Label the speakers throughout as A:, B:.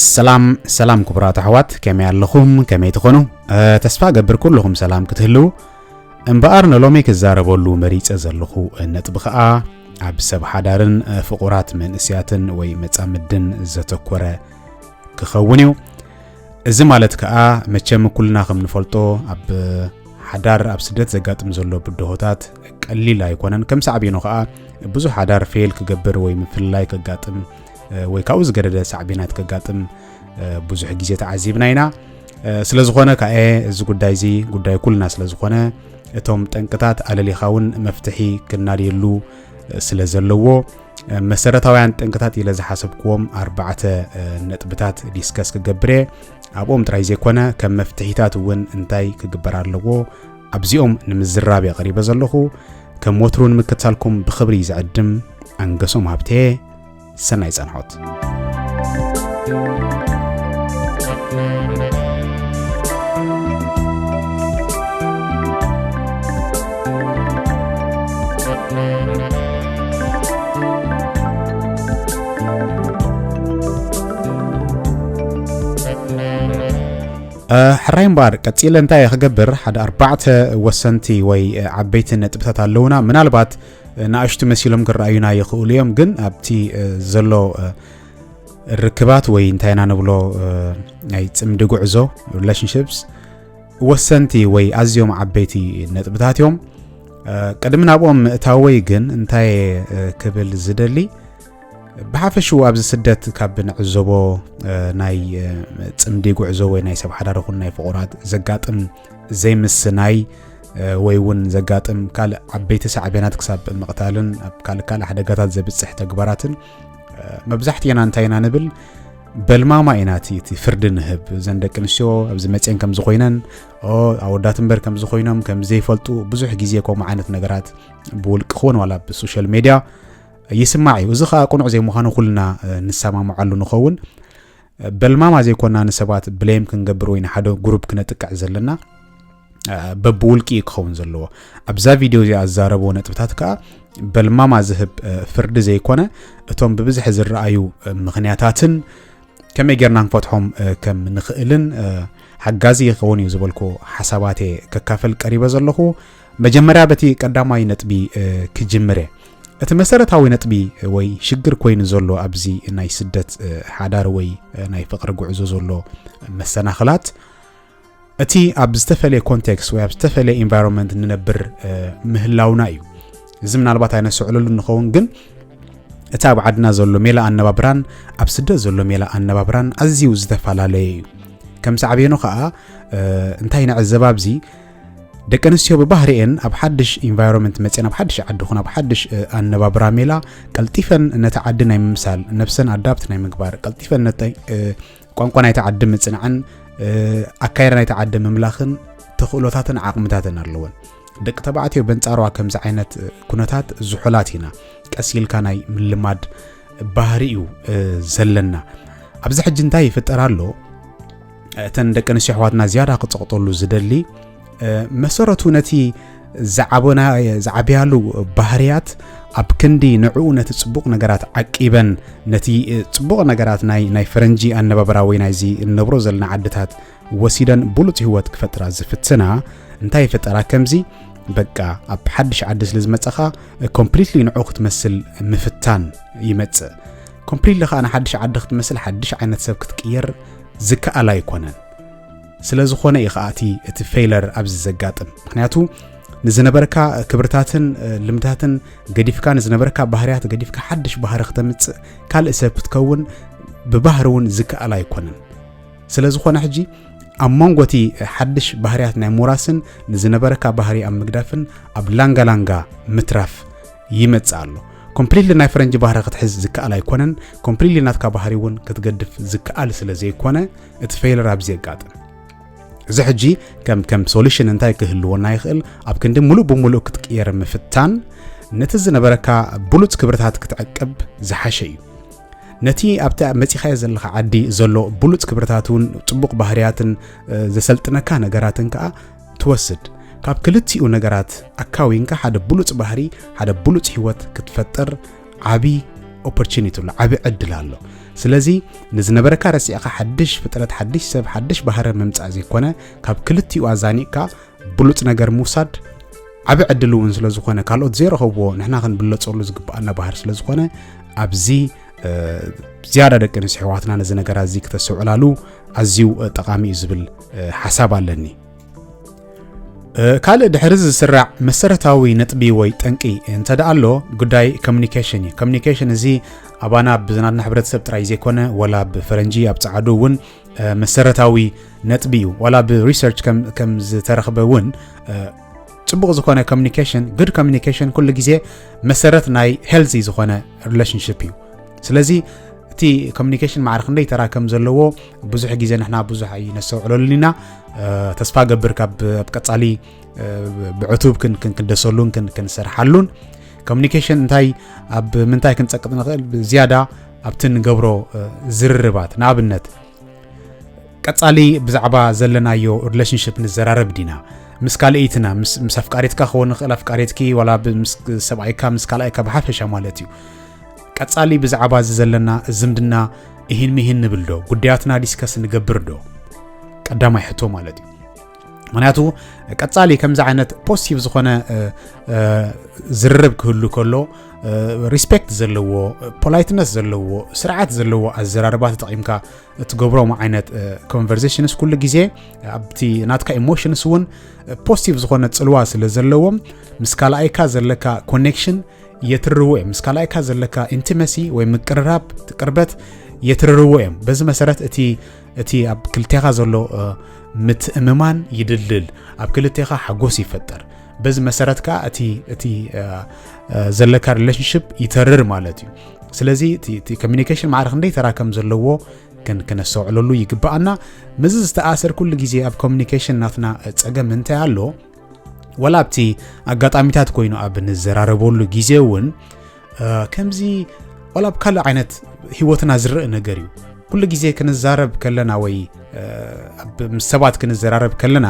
A: ሰላም ሰላም ክቡራት ኣሕዋት ከመይ ኣለኹም ከመይ ትኾኑ ተስፋ ገብር ኩልኹም ሰላም ክትህልዉ እምበኣር ንሎሚ ክዛረበሉ መሪፀ ዘለኹ ነጥቢ ከዓ ኣብ ሰብ ሓዳርን ፍቑራት መንእስያትን ወይ መፃምድን ዘተኮረ ክኸውን እዩ እዚ ማለት ከኣ መቸም ኩልና ከም ንፈልጦ ኣብ ሓዳር ኣብ ስደት ዘጋጥም ዘሎ ብድሆታት ቀሊል ኣይኮነን ከም ሳዕቤኑ ከኣ ብዙሕ ሓዳር ፌል ክገብር ወይ ምፍልላይ ከጋጥም ወይ ካብኡ ዝገደደ ሳዕቤናት ከጋጥም ብዙሕ ግዜ ተዓዚብና ኢና ስለ ዝኾነ ከኣ እዚ ጉዳይ እዚ ጉዳይ ኩልና ስለ ዝኾነ እቶም ጠንቅታት ኣለሊኻ እውን መፍትሒ ክናድየሉ ስለ ዘለዎ መሰረታውያን ጠንቅታት ኢለ ዝሓሰብክዎም ኣርባዕተ ነጥብታት ዲስከስ ክገብር እየ ኣብኦም ጥራይ ዘይኮነ ከም መፍትሒታት እውን እንታይ ክግበር ኣለዎ ኣብዚኦም ንምዝራብ እየ ቀሪበ ዘለኹ ከም ወትሩ ንምክትታልኩም ብክብሪ ዝዕድም ኣንገሶም ሃብተየ ሰናይ ጸንሖት ሕራይ እምበኣር ቀፂለ እንታይ ክገብር ሓደ ኣርባዕተ ወሰንቲ ወይ ዓበይቲ ነጥብታት ኣለውና ምናልባት ንኣሽቱ መሲሎም ክረኣዩና ይኽእሉ እዮም ግን ኣብቲ ዘሎ ርክባት ወይ እንታይ ኢና ንብሎ ናይ ፅምዲ ጉዕዞ ሪላሽንሽፕስ ወሰንቲ ወይ ኣዝዮም ዓበይቲ ነጥብታት እዮም ቅድሚ ናብኦም ምእታወይ ግን እንታይ ክብል ዝደሊ ብሓፈሽኡ ኣብዚ ስደት ካብ ንዕዘቦ ናይ ፅምዲ ጉዕዞ ወይ ናይ ሰብ ሓዳር ይኹን ናይ ፍቑራት ዘጋጥም ዘይምስናይ ወይ እውን ዘጋጥም ካልእ ዓበይቲ ሳዕቤናት ክሳብ ምቕታልን ኣብ ካልእ ካልእ ሓደጋታት ዘብፅሕ ተግባራትን መብዛሕትኤና እንታይ ኢና ንብል በልማማ ኢና እቲ እቲ ፍርዲ ንህብ እዘን ደቂ ኣንስትዮ ኣብዚ መፅን ከምዚ ኮይነን ኣወዳት እምበር ከምዚ ኮይኖም ከምዘይፈልጡ ብዙሕ ግዜ ከምኡ ዓይነት ነገራት ብውልቂ ክውን ዋላ ብሶሻል ሜድያ ይስማዕ እዩ እዚ ከዓ ቅኑዕ ዘይምዃኑ ኩልና ንሰማምዓሉ ንኸውን በልማማ ዘይኮና ንሰባት ብሌም ክንገብር ወይ ንሓደ ጉሩብ ክነጥቅዕ ዘለና በብውልቂ እዩ ክኸውን ዘለዎ ኣብዛ ቪድዮ እዚኣ ዝዛረብዎ ነጥብታት ከዓ በልማማ ዝህብ ፍርዲ ዘይኮነ እቶም ብብዝሒ ዝረኣዩ ምክንያታትን ከመይ ጌርና ንፈትሖም ከም ንኽእልን ሓጋዚ ይኸውን እዩ ዝበልኩ ሓሳባት እየ ከካፈል ቀሪበ ዘለኹ መጀመርያ በቲ ቀዳማይ ነጥቢ ክጅምር እየ እቲ መሰረታዊ ነጥቢ ወይ ሽግር ኮይኑ ዘሎ ኣብዚ ናይ ስደት ሓዳር ወይ ናይ ፍቅሪ ጉዕዞ ዘሎ መሰናኽላት እቲ ኣብ ዝተፈለየ ኮንቴክስት ወይ ኣብ ዝተፈለየ ኢንቫይሮንመንት ንነብር ምህላውና እዩ እዚ ምናልባት ኣይነስዕለሉ ንኸውን ግን እቲ ኣብ ዓድና ዘሎ ሜላ ኣነባብራን ኣብ ስደት ዘሎ ሜላ ኣነባብራን ኣዝዩ ዝተፈላለየ እዩ ከም ሳዕቤኑ ከዓ እንታይ ንዕዘብ ኣብዚ ደቂ ኣንስትዮ ብባህሪኤን ኣብ ሓድሽ ኢንቫይሮንመንት መፅን ኣብ ሓድሽ ዓዲ ኹን ኣብ ሓድሽ ኣነባብራ ሜላ ቀልጢፈን ነቲ ዓዲ ናይ ምምሳል ነብሰን ኣዳብት ናይ ምግባር ቀልጢፈን ቋንቋ ናይቲ ዓዲ ምፅናዕን ኣካይዳ ናይቲ ዓዲ ምምላኽን ተኽእሎታትን ዓቕምታትን ኣለወን ደቂ ተባዕትዮ በንፃሯ ከምዚ ዓይነት ኩነታት ዝሑላት ኢና ቀስ ኢልካ ናይ ምልማድ ባህሪ እዩ ዘለና ኣብዚ ሕጂ እንታይ ይፍጠር ኣሎ እተን ደቂ ኣንስትዮ ኣሕዋትና ዝያዳ ክጸቕጠሉ ዝደሊ መሰረቱ ነቲ ዝዓበና ዝዓብያሉ ባህርያት ኣብ ክንዲ ንዕኡ ነቲ ጽቡቕ ነገራት ዓቂበን ነቲ ጽቡቕ ነገራት ናይ ናይ ፈረንጂ ኣነባብራ ወይ ናይዚ እንነብሮ ዘለና ዓድታት ወሲደን ብሉፅ ህይወት ክፈጥራ ዝፍትና እንታይ ይፈጠራ ከምዚ በቃ ኣብ ሓድሽ ዓዲ ስለ ዝመፀኻ ኮምፕሊትሊ ንዑ ክትመስል ምፍታን ይመፅእ ኮምፕሊትሊ ከዓ ንሓድሽ ዓዲ ክትመስል ሓድሽ ዓይነት ሰብ ክትቅየር ዝከኣል ኣይኮነን ስለ ዝኾነ እዩ ከዓ እቲ እቲ ፌይለር ኣብዚ ዘጋጥም ምክንያቱ ንዝነበርካ ክብርታትን ልምድታትን ገዲፍካ ንዝነበርካ ባህርያት ገዲፍካ ሓድሽ ባህሪ ክተምፅእ ካልእ ሰብ ክትከውን ብባህሪ እውን ዝከኣል ኣይኮነን ስለ ዝኾነ ሕጂ ኣብ መንጎ እቲ ሓድሽ ባህርያት ናይ ሞራስን ንዝነበረካ ባህሪ ኣብ ምግዳፍን ኣብ ላንጋላንጋ ምትራፍ ይመጽእ ኣሎ ኮምፕሊትሊ ናይ ፈረንጂ ባህሪ ክትሕዝ ዝከኣል ኣይኮነን ኮምፕሊትሊ ናትካ ባህሪ እውን ክትገድፍ ዝከኣል ስለ ዘይኮነ እቲ ፌይለር ኣብዚ የጋጥም እዚ ሕጂ ከም ከም ሶሉሽን እንታይ ክህልወና ይኽእል ኣብ ክንዲ ሙሉእ ብምሉእ ክትቅየር ምፍታን ነቲ ዝነበረካ ብሉፅ ክብርታት ክትዕቅብ ዝሓሸ እዩ ነቲ ኣብቲ መፂኻዮ ዘለካ ዓዲ ዘሎ ብሉፅ ክብርታት እውን ፅቡቕ ባህርያትን ዘሰልጥነካ ነገራትን ከዓ ትወስድ። ካብ ክልቲኡ ነገራት ኣካዊንካ ሓደ ብሉጽ ባህሪ፣ ሓደ ብሉጽ ህይወት ክትፈጥር ዓቢ ኦፖርቹኒቲ ኣሎ፣ ዓቢ ዕድል ኣሎ። ስለዚ ንዝነበረካ ረሲዕካ ሓድሽ ፍጥረት፣ ሓድሽ ሰብ፣ ሓድሽ ባህረ ምምጻእ ዘይኮነ ካብ ክልቲኡ ኣዛኒቕካ ብሉጽ ነገር ምውሳድ ዓቢ ዕድል እውን ስለ ዝኾነ ካልኦት ዘይረኸብዎ ንሕና ክንብለጸሉ ዝግብኣና ባህር ስለ ዝኾነ ኣብዚ ዝያዳ ደቂ ኣንስትዮ ኣሕዋትና ነዚ ነገራት እዚ ክተስተውዕላሉ ኣዝዩ ጠቓሚ እዩ ዝብል ሓሳብ ኣለኒ ካልእ ድሕሪ እዚ ዝስራዕ መሰረታዊ ነጥቢ ወይ ጠንቂ እንተ ደኣ ኣሎ ጉዳይ ኮሚኒኬሽን እዩ ኮሚኒኬሽን እዚ ኣባና ኣብ ዝናትና ሕብረተሰብ ጥራይ ዘይኮነ ወላ ብፈረንጂ ኣብ ፃዓዱ እውን መሰረታዊ ነጥቢ እዩ ዋላ ብሪሰርች ከም ዝተረኽበ እውን ፅቡቕ ዝኾነ ኮሚኒኬሽን ጉድ ኮሚኒኬሽን ኩሉ ግዜ መሰረት ናይ ሄልዚ ዝኾነ ሪሌሽንሽፕ እዩ ስለዚ እቲ ኮሚኒኬሽን ማዕረ ክንደይ ተራ ከም ዘለዎ ብዙሕ ግዜ ንሕና ብዙሕ ኣይነስተውዕለሉን ኢና ተስፋ ገብር ካብ ኣብ ቀፃሊ ብዕቱብ ክንደሰሉን ክንሰርሓሉን ኮሚኒኬሽን እንታይ ኣብ ምንታይ ክንፀቅጥ ንኽእል ዝያዳ ኣብቲ ንገብሮ ዝርርባት ንኣብነት ቀጻሊ ብዛዕባ ዘለናዮ ሪሌሽንሽፕ ንዘራረብ ዲና ምስ ካልእይትና ምስ ኣፍቃሪትካ ክኸውን ንኽእል ኣፍቃሪትኪ ዋላ ምስ ሰብኣይካ ምስ ካልኣይካ ብሓፈሻ ማለት እዩ ቀጻሊ ብዛዕባ እዚ ዘለና ዝምድና እሂን ምሂን ንብል ዶ ጉዳያትና ዲስከስ ንገብር ዶ ቀዳማይ ሕቶ ማለት እዩ ምክንያቱ ቀፃሊ ከምዚ ዓይነት ፖሲቲቭ ዝኾነ ዝርርብ ክህሉ ከሎ ሪስፔክት ዘለዎ ፖላይትነስ ዘለዎ ስርዓት ዘለዎ ኣዘራርባ ተጠቒምካ እትገብሮም ዓይነት ኮንቨርሴሽንስ ኩሉ ግዜ ኣብቲ ናትካ ኢሞሽንስ እውን ፖስቲቭ ዝኾነ ፅልዋ ስለ ዘለዎም ምስ ካልኣይካ ዘለካ ኮኔክሽን የትርዎ እዮም ምስ ካልኣይካ ዘለካ ኢንቲመሲ ወይ ምቅርራብ ቅርበት የትርርዎ እዮም በዚ መሰረት እቲ እቲ ኣብ ክልቴኻ ዘሎ ምትእምማን ይድልድል፣ ኣብ ክልቴኻ ሓጎስ ይፈጠር። በዚ መሰረት ከዓ እቲ እቲ ዘለካ ሪሌሽንሽፕ ይተርር ማለት እዩ። ስለዚ እቲ ኮሚኒኬሽን ማዕረ ክንደይ ተራ ከም ዘለዎ ክነስተውዕለሉ ይግባኣና። ምዚ ዝተኣሰር ኩሉ ግዜ ኣብ ኮሚኒኬሽን ናትና ፀገም እንታይ ኣሎ ወላ ኣብቲ ኣጋጣሚታት ኮይኑ ኣብ ንዘራረበሉ ግዜ እውን ከምዚ ዋላ ብ ካልእ ዓይነት ሂወትና ዝርእ ነገር እዩ ኩሉ ግዜ ክንዛረብ ከለና ወይ ምስ ሰባት ክንዘራረብ ከለና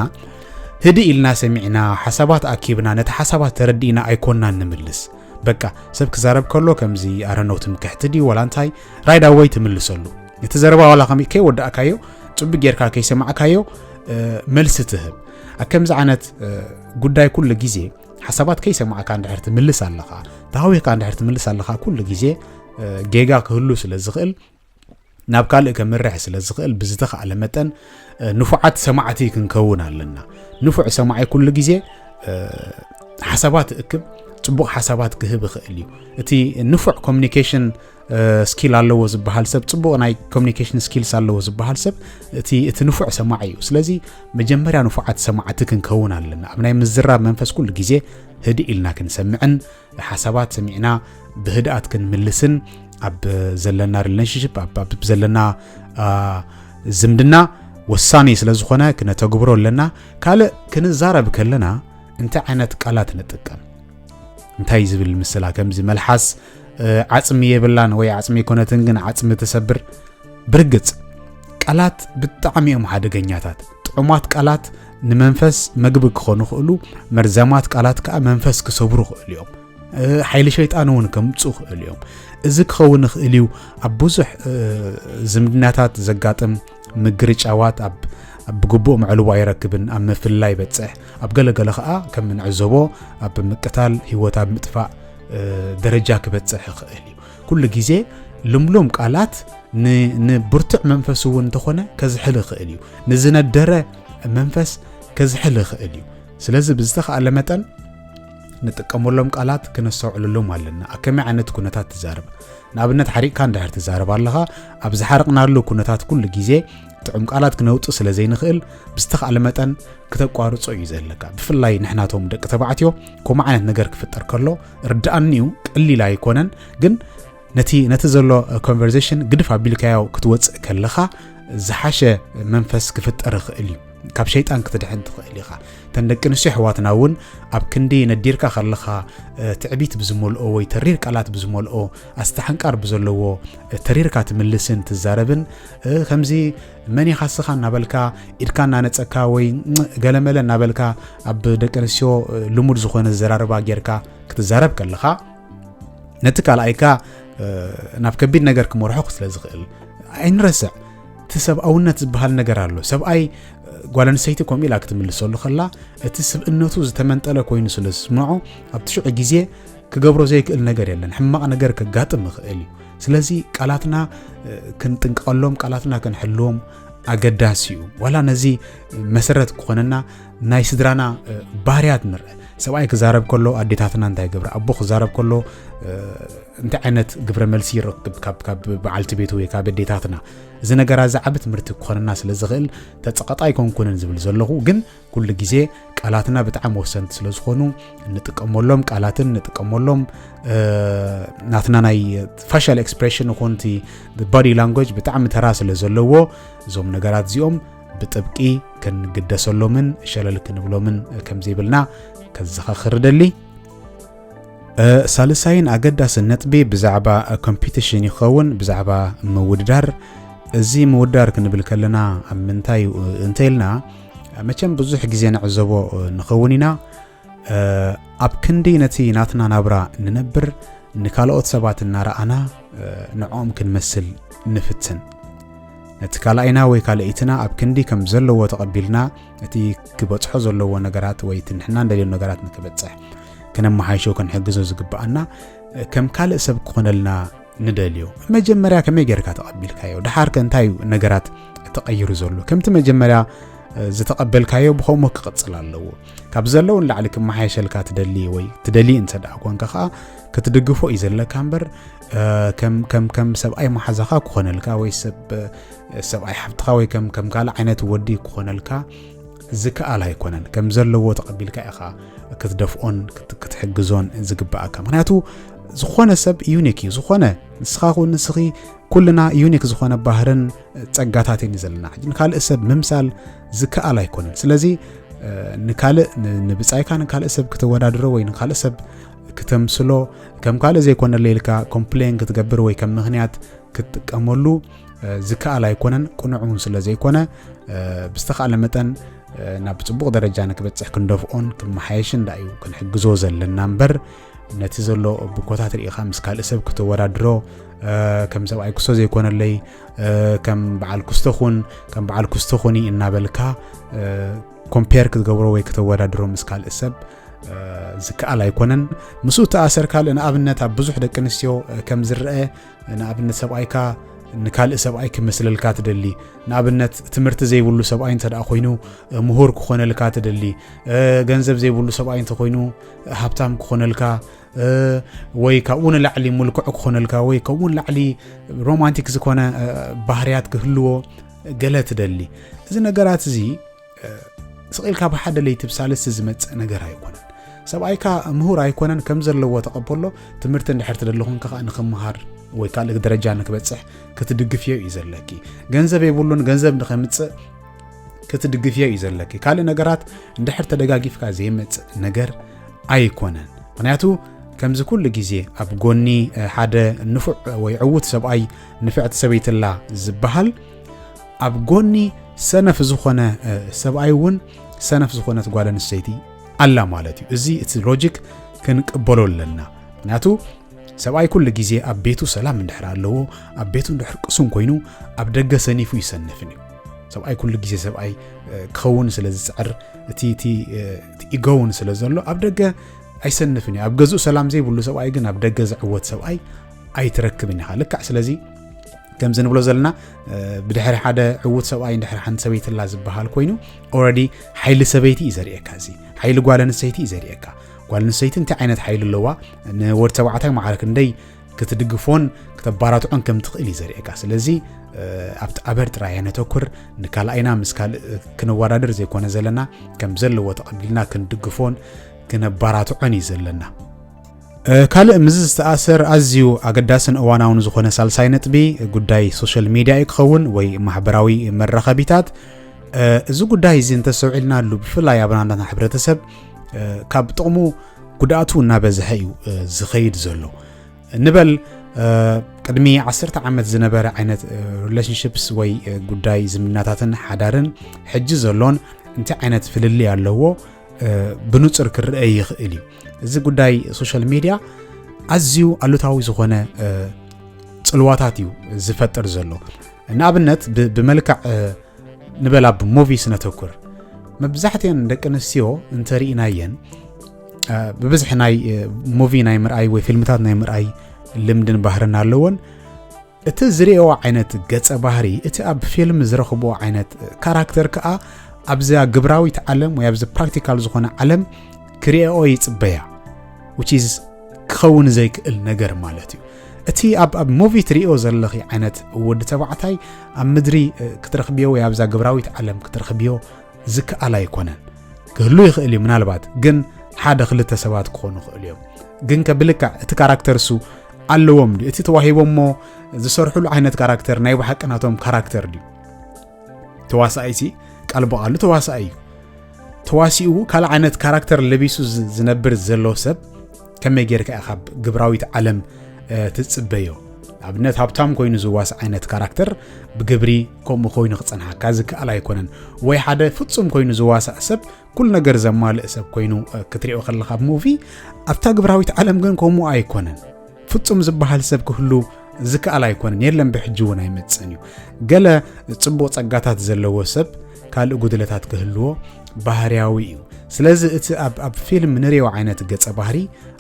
A: ህድእ ኢልና ሰሚዕና ሓሳባት ኣኪብና ነቲ ሓሳባት ተረዲእና ኣይኮንናን ንምልስ በቃ ሰብ ክዛረብ ከሎ ከምዚ ኣረነው ትምክሕቲ ድዩ ዋላ እንታይ ራይዳ ወይ ትምልሰሉ ነቲ ዘረባ ዋላ ከ ከይወዳእካዮ ፅቡቅ ጌርካ ከይሰማዕካዮ መልሲ ትህብ ኣብ ከምዚ ዓይነት ጉዳይ ኩሉ ግዜ ሓሳባት ከይሰማዕካ እንድሕር ትምልስ ኣለኻ ተሃዊኽካ እንድሕር ትምልስ ኣለኻ ኩሉ ግዜ ጌጋ ክህሉ ስለ ዝኽእል ናብ ካልእ ከምርሕ ስለ ዝኽእል ብዝተኽኣለ መጠን ንፉዓት ሰማዕቲ ክንከውን ኣለና ንፉዕ ሰማዒ ኩሉ ግዜ ሓሳባት እክብ ፅቡቕ ሓሳባት ክህብ ይኽእል እዩ እቲ ንፉዕ ኮሚኒኬሽን ስኪል ኣለዎ ዝበሃል ሰብ ፅቡቕ ናይ ኮሚኒኬሽን ስኪልስ ኣለዎ ዝበሃል ሰብ እቲ እቲ ንፉዕ ሰማዕ እዩ ስለዚ መጀመርያ ንፉዓት ሰማዕቲ ክንከውን ኣለና ኣብ ናይ ምዝራብ መንፈስ ኩሉ ግዜ ህድእ ኢልና ክንሰምዕን ሓሳባት ሰሚዕና ብህድኣት ክንምልስን ኣብ ዘለና ሪሌሽንሽፕ ኣብ ዘለና ዝምድና ወሳኒ ስለ ዝኾነ ክነተግብሮ ኣለና ካልእ ክንዛረብ ከለና እንታይ ዓይነት ቃላት ንጥቀም እንታይ ዝብል ምስላ ከምዚ መልሓስ ዓፅሚ የብላን ወይ ዓፅሚ ኣይኮነትን ግን ዓፅሚ ትሰብር ብርግፅ ቃላት ብጣዕሚ እዮም ሓደገኛታት ጥዑማት ቃላት ንመንፈስ መግቢ ክኾኑ ክእሉ መርዛማት ቃላት ከዓ መንፈስ ክሰብሩ ክእሉ እዮም ሓይሊ ሸይጣን እውን ከምፁ ክእሉ እዮም እዚ ክኸውን ይኽእል እዩ ኣብ ብዙሕ ዝምድናታት ዘጋጥም ምግርጫዋት ኣብ ብግቡእ መዕልቦ ኣይረክብን ኣብ ምፍላይ ይበፅሕ ኣብ ገለገለ ከዓ ከም እንዕዘቦ ኣብ ምቅታል ህይወት ኣብ ምጥፋእ ደረጃ ክበፅሕ ይኽእል እዩ ኩሉ ግዜ ልምሉም ቃላት ንብርቱዕ መንፈስ እውን እንተኾነ ከዝሕል ይኽእል እዩ ንዝነደረ መንፈስ ከዝሕል ይኽእል እዩ ስለዚ ብዝተኸኣለ መጠን ንጥቀመሎም ቃላት ክነስተውዕለሎም ኣለና ኣብ ከመይ ዓይነት ኩነታት ትዛረብ ንኣብነት ሓሪቕካ እንድሕር ትዛረብ ኣለኻ ኣብ ዝሓረቕናሉ ኩነታት ኩሉ ግዜ ጥዑም ቃላት ክነውጽእ ስለ ዘይንኽእል ብዝተኻእለ መጠን ክተቋርጾ እዩ ዘለካ ብፍላይ ንሕናቶም ደቂ ተባዕትዮ ከምኡ ዓይነት ነገር ክፍጠር ከሎ ርድኣኒ እዩ ቀሊል ኣይኮነን ግን ነቲ ነቲ ዘሎ ኮንቨርሴሽን ግድፍ ኣቢልካዮ ክትወፅእ ከለኻ ዝሓሸ መንፈስ ክፍጠር ይኽእል እዩ ካብ ሸይጣን ክትድሕን ትኽእል ኢኻ ተን ደቂ ኣንስትዮ ኣሕዋትና እውን ኣብ ክንዲ ነዲርካ ከለኻ ትዕቢት ብዝመልኦ ወይ ተሪር ቃላት ብዝመልኦ ኣስተሓንቃር ብዘለዎ ተሪርካ ትምልስን ትዛረብን ከምዚ መን ኢኻ ስኻ እናበልካ ኢድካ እናነፀካ ወይ ገለመለ እናበልካ ኣብ ደቂ ኣንስትዮ ልሙድ ዝኾነ ዘራርባ ጌርካ ክትዛረብ ከለኻ ነቲ ካልኣይካ ናብ ከቢድ ነገር ክመርሖ ስለ ዝኽእል ኣይንረስዕ እቲ ሰብኣውነት ዝበሃል ነገር ኣሎ ሰብኣይ ጓል ኣንስተይቲ ከምኡ ኢላ ክትምልሰሉ ከላ እቲ ስብእነቱ ዝተመንጠለ ኮይኑ ስለ ዝስምዖ ኣብቲ ሽዑ ግዜ ክገብሮ ዘይክእል ነገር የለን ሕማቕ ነገር ከጋጥም ይኽእል እዩ ስለዚ ቃላትና ክንጥንቀቐሎም ቃላትና ክንሕልዎም ኣገዳሲ እዩ ዋላ ነዚ መሰረት ክኾነና ናይ ስድራና ባህርያት ንርአ ሰብኣይ ክዛረብ ከሎ ኣዴታትና እንታይ ገብረ ኣቦ ክዛረብ ከሎ እንታይ ዓይነት ግብረ መልሲ ይረክብ ካብ በዓልቲ ቤቱ ወይ ካብ ኣዴታትና እዚ ነገራ እዚ ዓቢ ትምህርቲ ክኾነና ስለ ዝኽእል ተጸቐጣ ኣይኮንኩንን ዝብል ዘለኹ ግን ኩሉ ግዜ ቃላትና ብጣዕሚ ወሰንቲ ስለ ዝኾኑ እንጥቀመሎም ቃላትን እንጥቀመሎም ናትና ናይ ፋሻል ኤክስፕሬሽን ይኹን እቲ ባዲ ላንጎጅ ብጣዕሚ ተራ ስለ ዘለዎ እዞም ነገራት እዚኦም ብጥብቂ ክንግደሰሎምን ሸለል ክንብሎምን ከም ዘይብልና ከዘኻኽር ደሊ ሳልሳይን ኣገዳስን ነጥቢ ብዛዕባ ኮምፒቲሽን ይኸውን ብዛዕባ ምውድዳር እዚ ምውድዳር ክንብል ከለና ኣብ ምንታይ እንተኢልና መቸም ብዙሕ ግዜ ንዕዘቦ ንኸውን ኢና ኣብ ክንዲ ነቲ ናትና ናብራ ንነብር ንካልኦት ሰባት እናረኣና ንዕኦም ክንመስል ንፍትን ነቲ ካልኣይና ወይ ካልኢትና ኣብ ክንዲ ከም ዘለዎ ተቐቢልና እቲ ክበጽሖ ዘለዎ ነገራት ወይ እቲ ንሕና እንደልዮ ነገራት ንክበጽሕ ክነመሓይሾ ክንሕግዞ ዝግብኣና ከም ካልእ ሰብ ክኾነልና ንደልዮ መጀመርያ ከመይ ጌርካ ተቐቢልካዮ ድሓርከ እንታይ እዩ ነገራት ተቐይሩ ዘሎ ከምቲ መጀመርያ ዝተቐበልካዮ ብኸምኡ ክቕፅል ኣለዎ ካብ ዘለዉ ንላዕሊ ክመሓየሸልካ ትደሊ ወይ ትደሊ እንተ ደኣ ኮንካ ከዓ ክትድግፎ እዩ ዘለካ እምበር ከም ሰብኣይ መሓዛኻ ክኾነልካ ወይ ሰብኣይ ሓብትኻ ወይ ከም ካልእ ዓይነት ወዲ ክኾነልካ ዝከኣል ኣይኮነን ከም ዘለዎ ተቐቢልካ ኢኻ ክትደፍኦን ክትሕግዞን ዝግብኣካ ምክንያቱ ዝኾነ ሰብ ዩኒክ እዩ ዝኾነ ንስኻ ኹን ንስኺ ኩልና ዩኒክ ዝኾነ ባህርን ጸጋታት እዩ ዘለና ሕጂ ንካልእ ሰብ ምምሳል ዝከኣል ኣይኮነን ስለዚ ንካልእ ንብጻይካ ንካልእ ሰብ ክተወዳድሮ ወይ ንካልእ ሰብ ክተምስሎ ከም ካልእ ዘይኮነለ ኢልካ ኮምፕሌን ክትገብር ወይ ከም ምክንያት ክትጥቀመሉ ዝከኣል ኣይኮነን ቅኑዕ እውን ስለ ዘይኮነ ብዝተኻእለ መጠን ናብ ፅቡቕ ደረጃ ንክበፅሕ ክንደፍኦን ክመሓየሽን ዳ እዩ ክንሕግዞ ዘለና እምበር ነቲ ዘሎ ብኮታት ርኢኻ ምስ ካልእ ሰብ ክተወዳድሮ ከም ሰብኣይ ክስቶ ዘይኮነለይ ከም በዓል ክስቶ ኹን ከም በዓል ክስቶ ኹኒ እናበልካ ኮምፔር ክትገብሮ ወይ ክተወዳድሮ ምስ ካልእ ሰብ ዝከኣል ኣይኮነን ምስኡ ተኣሰር ካልእ ንኣብነት ኣብ ብዙሕ ደቂ ኣንስትዮ ከም ዝረአ ንኣብነት ሰብኣይካ ንካልእ ሰብኣይ ክመስለልካ ትደሊ ንኣብነት ትምህርቲ ዘይብሉ ሰብኣይ እንተ ኮይኑ ምሁር ክኾነልካ ትደሊ ገንዘብ ዘይብሉ ሰብኣይ እንተኮይኑ ሃብታም ክኾነልካ ወይ ካብኡ ንላዕሊ ምልክዑ ክኾነልካ ወይ ካብኡ ንላዕሊ ሮማንቲክ ዝኾነ ባህርያት ክህልዎ ገለ ትደሊ እዚ ነገራት እዚ ስቕ ኢልካ ብሓደ ለይቲ ብሳልስቲ ዝመፅእ ነገር ኣይኮነን ሰብኣይካ ምሁር ኣይኮነን ከም ዘለዎ ተቐበሎ ትምህርቲ እንድሕር ትደለኹን ከዓ ንክምሃር ወይ ካልእ ደረጃ ንክበፅሕ ክትድግፍዮ እዩ ዘለኪ ገንዘብ የብሉን ገንዘብ ንከምፅእ ክትድግፍዮ እዩ ዘለኪ ካልእ ነገራት እንድሕር ተደጋጊፍካ ዘይመፅእ ነገር ኣይኮነን ምክንያቱ ከምዚ ኩሉ ግዜ ኣብ ጎኒ ሓደ ንፉዕ ወይ ዕውት ሰብኣይ ንፍዕቲ ሰበይትላ ዝበሃል ኣብ ጎኒ ሰነፍ ዝኾነ ሰብኣይ እውን ሰነፍ ዝኾነት ጓል ኣንስተይቲ ኣላ ማለት እዩ። እዚ እቲ ሎጂክ ክንቅበሎ ኣለና። ምክንያቱ ሰብኣይ ኩሉ ግዜ ኣብ ቤቱ ሰላም እንድሕር ኣለዎ ኣብ ቤቱ እንድሕር ቅሱን ኮይኑ ኣብ ደገ ሰኒፉ ይሰንፍን እዩ ሰብኣይ ኩሉ ግዜ ሰብኣይ ክኸውን ስለ ዝፅዕር እቲ ኢጎውን ስለ ዘሎ ኣብ ደገ ኣይሰንፍን እዩ ኣብ ገዝኡ ሰላም ዘይብሉ ሰብኣይ ግን ኣብ ደገ ዝዕወት ሰብኣይ ኣይትረክብን ኢኻ ልካዕ ስለዚ ከምዚ ንብሎ ዘለና ብድሕሪ ሓደ ዕዉት ሰብኣይ ድሕሪ ሓንቲ ሰበይቲ ላ ዝበሃል ኮይኑ ኦረዲ ሓይሊ ሰበይቲ እዩ ዘርእካ እዚ ሓይሊ ጓል ኣንስተይቲ እዩ ዘርእካ ጓል ኣንስተይቲ እንታይ ዓይነት ሓይሊ ኣለዋ ንወዲ ተባዕታይ ማዕረ ክንደይ ክትድግፎን ክተባራትዖን ከም ትኽእል እዩ ዘርእካ ስለዚ ኣብቲ ኣበር ጥራይ ነተኩር ንካልኣይና ምስ ካልእ ክንወዳደር ዘይኮነ ዘለና ከም ዘለዎ ተቐቢልና ክንድግፎን ክነባራትዖን እዩ ዘለና ካልእ ምስዚ ዝተኣሰር ኣዝዩ ኣገዳስን እዋናውን ዝኾነ ሳልሳይ ነጥቢ ጉዳይ ሶሻል ሚድያ እዩ ክኸውን ወይ ማሕበራዊ መራኸቢታት እዚ ጉዳይ እዚ እንተሰውዒልናሉ ብፍላይ ኣብ ናትና ሕብረተሰብ ካብ ጥቕሙ ጉድኣቱ እናበዝሐ እዩ ዝኸይድ ዘሎ ንበል ቅድሚ ዓሰርተ ዓመት ዝነበረ ዓይነት ሪሌሽንሽፕስ ወይ ጉዳይ ዝምናታትን ሓዳርን ሕጂ ዘሎን እንታይ ዓይነት ፍልልይ ኣለዎ ብንፅር ክረአ ይኽእል እዩ እዚ ጉዳይ ሶሻል ሚድያ ኣዝዩ ኣሉታዊ ዝኾነ ፅልዋታት እዩ ዝፈጥር ዘሎ ንኣብነት ብመልክዕ ንበላ ብሙቪ ስነተኩር መብዛሕትኤን ደቂ ኣንስትዮ እንተርኢናየን ብብዝሒ ናይ ሙቪ ናይ ምርኣይ ወይ ፊልምታት ናይ ምርኣይ ልምድን ባህርን ኣለዎን እቲ ዝርእየዎ ዓይነት ገጸ ባህሪ እቲ ኣብ ፊልም ዝረኽብዎ ዓይነት ካራክተር ከኣ ኣብዛ ግብራዊት ዓለም ወይ ኣብዚ ፕራክቲካል ዝኾነ ዓለም ክርእኦ ይጽበያ which is ክኸውን ዘይክእል ነገር ማለት እዩ እቲ ኣብ ሙቪ ትሪኦ ዘለኺ ዓይነት ወዲ ተባዕታይ ኣብ ምድሪ ክትረኽብዮ ወይ ኣብዛ ግብራዊት ዓለም ክትረኽብዮ ዝከኣል ኣይኮነን ክህሉ ይኽእል እዩ ምናልባት ግን ሓደ ክልተ ሰባት ክኾኑ ይኽእሉ እዮም ግን ከብልካ እቲ ካራክተር እሱ ኣለዎም ድዩ እቲ ተዋሂቦሞ ዝሰርሕሉ ዓይነት ካራክተር ናይ ብሓቂ ናቶም ካራክተር ድዩ ተዋሳኣይ ሲ ቃል ብቓሉ ተዋሳኣይ እዩ ተዋሲኡ ካልእ ዓይነት ካራክተር ለቢሱ ዝነብር ዘሎ ሰብ ከመይ ጌርካ ኢኻ ካብ ግብራዊት ዓለም ትጽበዮ ኣብነት ሃብታም ኮይኑ ዝዋስ ዓይነት ካራክተር ብግብሪ ከምኡ ኮይኑ ክፀንሓካ ዝከኣል ኣይኮነን ወይ ሓደ ፍፁም ኮይኑ ዝዋሳእ ሰብ ኩሉ ነገር ዘማልእ ሰብ ኮይኑ ክትሪኦ ከለኻ ብ ሙቪ ኣብታ ግብራዊት ዓለም ግን ከምኡ ኣይኮነን ፍጹም ዝበሃል ሰብ ክህሉ ዝከኣል ኣይኮነን የለን ብሕጂ እውን ኣይመፅእን እዩ ገለ ፅቡቕ ጸጋታት ዘለዎ ሰብ ካልእ ጉድለታት ክህልዎ ባህርያዊ እዩ ስለዚ እቲ ኣብ ፊልም ንሪኦ ዓይነት ገጸ ባህሪ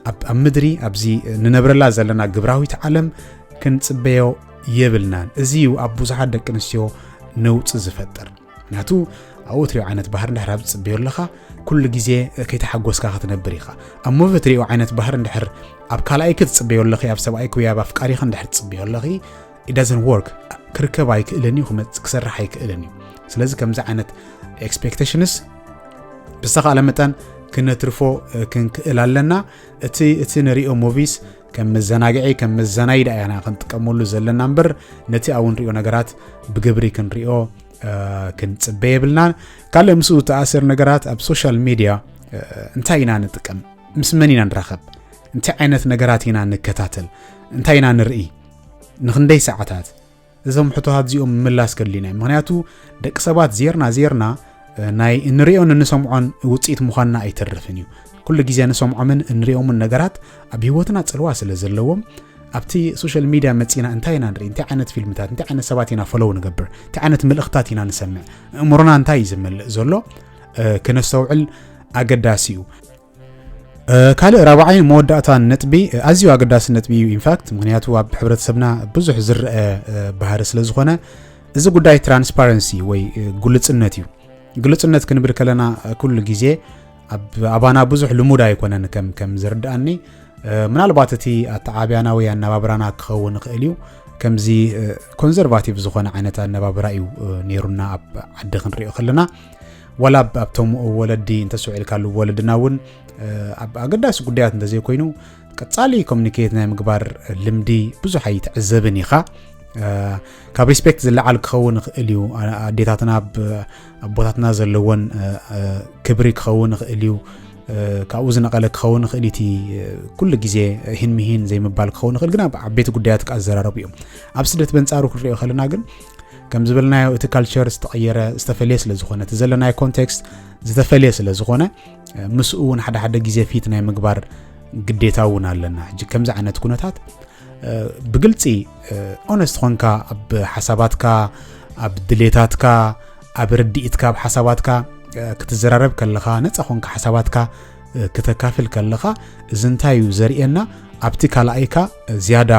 A: ኣብ ምድሪ ኣብዚ ንነብረላ ዘለና ግብራዊት ዓለም ክንፅበዮ የብልናን እዚ እዩ ኣብ ብዙሓት ደቂ ኣንስትዮ ነውፂ ዝፈጥር ምክንያቱ ኣብ ወትሪኡ ዓይነት ባህር እንድሕር ኣብ ዝፅበዮ ኣለኻ ኩሉ ግዜ ከይተሓጎስካ ክትነብር ኢኻ ኣብ ሞቨ ትሪኡ ዓይነት ባህር እንድሕር ኣብ ካልኣይ ክትፅበዮ ኣለኺ ኣብ ሰብኣይ ክውያ ኣብ ኣፍቃሪኻ እንድሕር ትፅበዮ ኣለኺ ኢዳዘን ወርክ ክርከብ ኣይክእልን እዩ ክሰርሕ ኣይክእልን እዩ ስለዚ ከምዚ ዓይነት ኤክስፔክቴሽንስ ብዝተኻእለ መጠን ክነትርፎ ክንክእል ኣለና እቲ እቲ ንሪኦ ሞቪስ ከም መዘናግዒ ከም መዘናይ ደኣ ኢና ክንጥቀመሉ ዘለና እምበር ነቲ ኣብ ንሪኦ ነገራት ብግብሪ ክንሪኦ ክንፅበ የብልናን ካልእ ምስኡ ተኣሰር ነገራት ኣብ ሶሻል ሚድያ እንታይ ኢና ንጥቀም ምስ መን ኢና ንራኸብ እንታይ ዓይነት ነገራት ኢና ንከታተል እንታይ ኢና ንርኢ ንክንደይ ሰዓታት እዞም ሕቶታት እዚኦም ምምላስ ከድልዩና እዩ ምክንያቱ ደቂ ሰባት ዜርና ዜርና ናይ እንሪኦን እንሰምዖን ውፅኢት ምዃንና ኣይተርፍን እዩ ኩሉ ግዜ ንሰምዖምን እንሪኦምን ነገራት ኣብ ሂወትና ፅልዋ ስለ ዘለዎም ኣብቲ ሶሻል ሚድያ መፂና እንታይ ኢና ንርኢ እንታይ ዓይነት ፊልምታት እንታይ ዓይነት ሰባት ኢና ፈለው ንገብር እንታይ ዓይነት ምልእኽታት ኢና ንሰምዕ እእምሮና እንታይ እዩ ዝመልእ ዘሎ ክነስተውዕል ኣገዳሲ እዩ ካልእ ራብዓይ መወዳእታን ነጥቢ ኣዝዩ ኣገዳሲ ነጥቢ እዩ ኢንፋክት ምክንያቱ ኣብ ሕብረተሰብና ብዙሕ ዝረአ ባህሪ ስለ ዝኾነ እዚ ጉዳይ ትራንስፓረንሲ ወይ ግልፅነት እዩ ግልፅነት ክንብል ከለና ኩሉ ግዜ ኣባና ብዙሕ ልሙድ ኣይኮነን ከም ዝርድኣኒ ምናልባት እቲ ኣተዓብያና ወይ ኣነባብራና ክኸውን ይኽእል እዩ ከምዚ ኮንዘርቫቲቭ ዝኾነ ዓይነት ኣነባብራ እዩ ነይሩና ኣብ ዓዲ ክንሪኦ ከለና ዋላ ኣብቶም ወለዲ እንተስውዒልካሉ ወለድና እውን ኣብ ኣገዳሲ ጉዳያት እንተዘይኮይኑ ቀፃሊ ኮሚኒኬት ናይ ምግባር ልምዲ ብዙሕ ኣይትዕዘብን ኢኻ ካብ ሪስፔክት ዝለዓል ክኸውን ይኽእል እዩ ኣዴታትና ኣቦታትና ዘለዎን ክብሪ ክኸውን ይኽእል እዩ ካብኡ ዝነቐለ ክኸውን ይኽእል እቲ ኩሉ ግዜ ህን ምሂን ዘይምባል ክኸውን ይኽእል ግን ኣብ ዓበይቲ ጉዳያት ክኣዘራረቡ እዮም ኣብ ስደት በንፃሩ ክንሪኦ ከለና ግን ከም ዝበልናዮ እቲ ካልቸር ዝተቐየረ ዝተፈለየ ስለ ዝኾነ እቲ ዘለናዮ ኮንቴክስት ዝተፈለየ ስለ ዝኾነ ምስኡ እውን ሓደ ሓደ ግዜ ፊት ናይ ምግባር ግዴታ እውን ኣለና ሕጂ ከምዚ ዓይነት ኩነታት ብግልፂ ኦነስት ኾንካ ኣብ ሓሳባትካ ኣብ ድሌታትካ ኣብ ርድኢትካ ኣብ ሓሳባትካ ክትዘራረብ ከለኻ ነፃ ኾንካ ሓሳባትካ ክተካፍል ከለኻ እዚ እንታይ እዩ ዘርእየና ኣብቲ ካልኣይካ ዝያዳ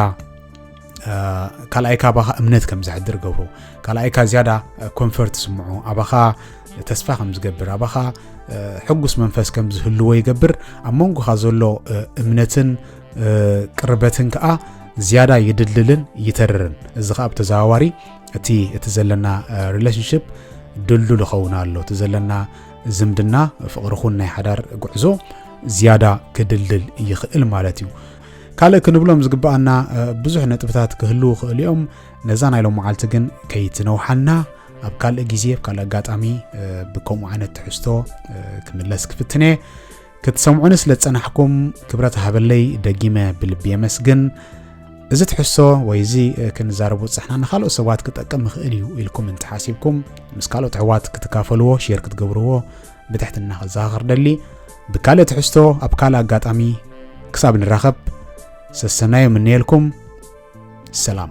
A: ካልኣይካ ኣባኻ እምነት ከም ዘሕድር ገብሮ ካልኣይካ ዝያዳ ኮንፈርት ስምዖ ኣባኻ ተስፋ ከም ዝገብር ኣባኻ ሕጉስ መንፈስ ከም ዝህልዎ ይገብር ኣብ መንጎኻ ዘሎ እምነትን ቅርበትን ከዓ ዝያዳ ይድልድልን ይተርርን እዚ ከዓ ብተዘዋዋሪ እቲ እቲ ዘለና ሪሌሽንሽፕ ድልዱል ይኸውን ኣሎ እቲ ዘለና ዝምድና ፍቕሪ ኹን ናይ ሓዳር ጉዕዞ ዝያዳ ክድልድል ይኽእል ማለት እዩ ካልእ ክንብሎም ዝግብኣና ብዙሕ ነጥብታት ክህልው ክእሉ እዮም ነዛ ናይ ሎም መዓልቲ ግን ከይትነውሓና ኣብ ካልእ ግዜ ኣብ ካልእ ኣጋጣሚ ብከምኡ ዓይነት ትሕዝቶ ክምለስ ክፍትን እየ ክትሰምዑኒ ስለ ዝፀናሕኩም ክብረት ሃበለይ ደጊመ ብልቢ የመስግን እዚ ትሕዝቶ ወይ እዚ ክንዛረቡ ፅሕና ንካልኦት ሰባት ክጠቅም ይኽእል እዩ ኢልኩም እንተሓሲብኩም ምስ ካልኦት ኣሕዋት ክትካፈልዎ ሼር ክትገብርዎ ብትሕትና ክዘኻኸር ደሊ ብካልእ ትሕዝቶ ኣብ ካልእ ኣጋጣሚ ክሳብ ንራኸብ ሰሰናዩ ምነየልኩም ሰላም